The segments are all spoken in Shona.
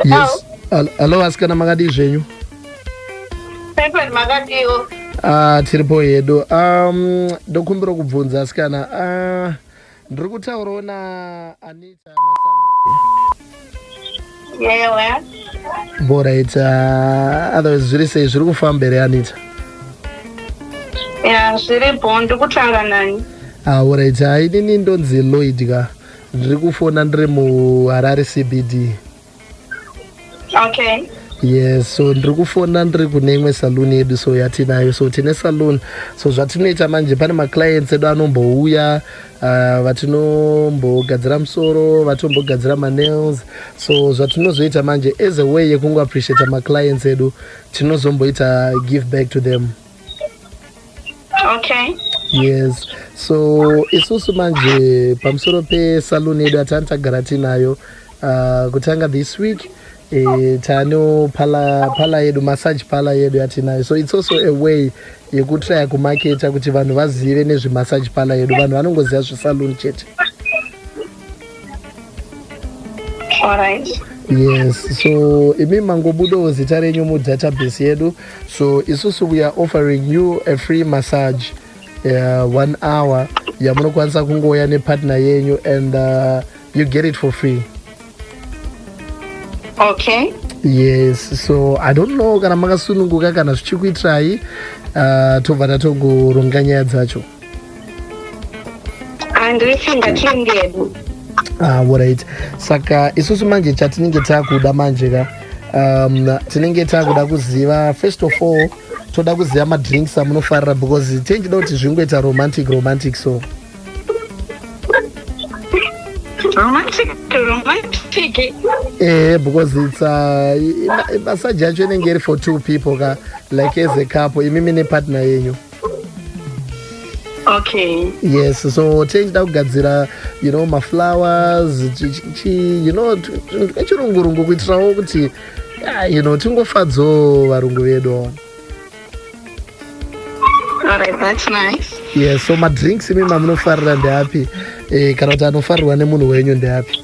yes Al- alo vasikana makadii zvenyu Pepper makadiwo. Ah, tiripo hedu um, ndokumbira kubvunza asikana uh, ndiri kutaurawo na anita Yewa. borit uh, otherwise zviri sei zviri kufamba here anita Ya, zviripo ndikutaura nani. aurit uh, inini ndonzi lloyd ka ndiri kufona ndiri muharare cbd okay yes so ndiri kufona ndiri kune imwe saloon yedu so yatinayo so tine saloon so zvatinoita manje pane maclients edu anombouya uh, vatinombogadzira musoro vatombogadzira manails so zvatinozoita manje as a way yekungoappreciata maclients edu tinozomboita give back to them okay yes so isusu manje pamusoro pesalon yedu atani tagara tiinayo uh, kutanga this week eh, tano pala, pala yedu massage pala yedu yatinayo so it's also a way yekutraya kumaketa kuti vanhu vazive nezvemassage pala yedu vanhu vanongoziva zvesalon chete Alright. yes so imi mangobudawo zita renyu mudatabase yedu so isusu we are offering you a free massage uh, one hour yamunokwanisa kungouya nepartner yenyu and uh, you get it for free Okay. yes so i don't know kana makasununguka kana zvichikuitirai uh, tobva tatogoronga nyaya dzacho handiri chimba chengedu alright ah, saka isusu manje chatinenge takuda manje ka um, tinenge takuda kuziva first of all toda kuziva madrinks amunofarira because tenjida kuti zvingoita romantic romantic so romantic romantic eh because it's uh, massage yacho inenge iri for two people ka like as a couple imimi nepartner yenyu okay yes so tei ndida kugadzira you know maflowers you know twechirungurungu kuitirawo kuti ah, you know tingofadzawo varungu vedu yes so madrinks imi mamunofarira ndeapi eh, kana kuti anofarirwa nemunhu wenyu ndeapi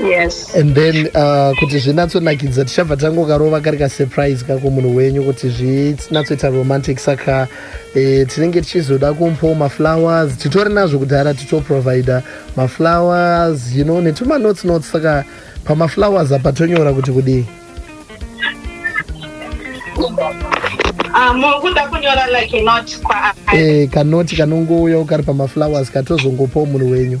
yes and then uh, kuti zvinatsonakidza tichabva tangokarova kari kasurprise kako munhu wenyu kuti zvinatsoita romantic saka eh, tinenge tichizoda kumpowo maflowers titori nazvo kudhara titoprovider maflowers you know netumanotes notes saka pamaflowers apa tonyora kuti kudii Ah, mukuda kunyora like a note kwaari eh, kanoti kanongouyawo kari pamaflowers katozongopawo munhu wenyu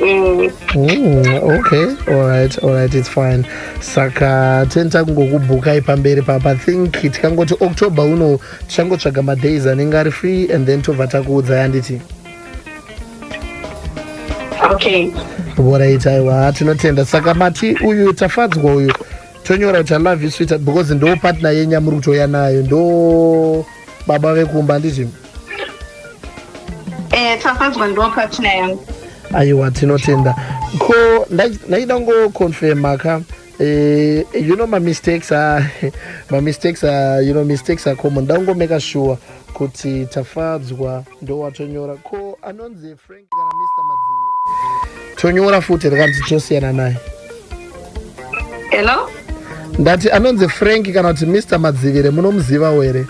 Mm. Mm, okay alright alright it's fine saka tinoita kungokubhukai pamberi papa think tikangoti october uno tichangotsvaga madays anenge ari free and then tobva takuudzai anditi okay vorait aiwa tinotenda saka mati uyu tafadzwa uyu tonyora kuti alove you sweetheart because ndo partner yenyu yamuri kutouya nayo ndo baba vekumba anditi Eh, tafadzwa ndo partner yangu aiwa tinotenda ko ndaida kungoconfirma ka eh, you know mamistakes are mamistakes are you know mistakes are common ndangomeka sure kuti tafadzwa ndowatonyora ko anonzi frank kana mr madziviri tonyora futi rikanzi tosiyana naye hello ndati anonzi frank kana kuti mr madzivire munomuzivawo here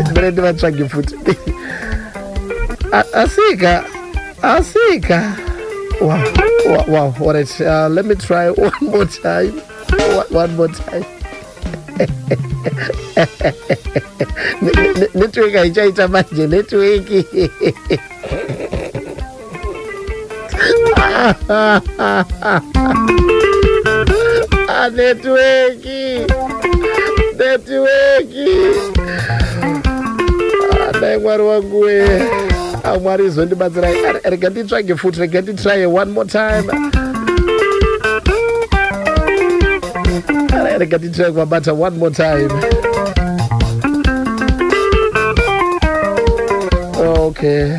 ndimene ndivatsvage futi asika asika wow, wow, wow. All right, uh, let me try one more time one more time network haichaita manje network Ah, netiweki netiweki Ah, dai mwari wangu wee Ah, mwari izondibatsirai Ah, rega nditsvage futi rega nditry one more time Ah, rega nditry kubabata one more time okay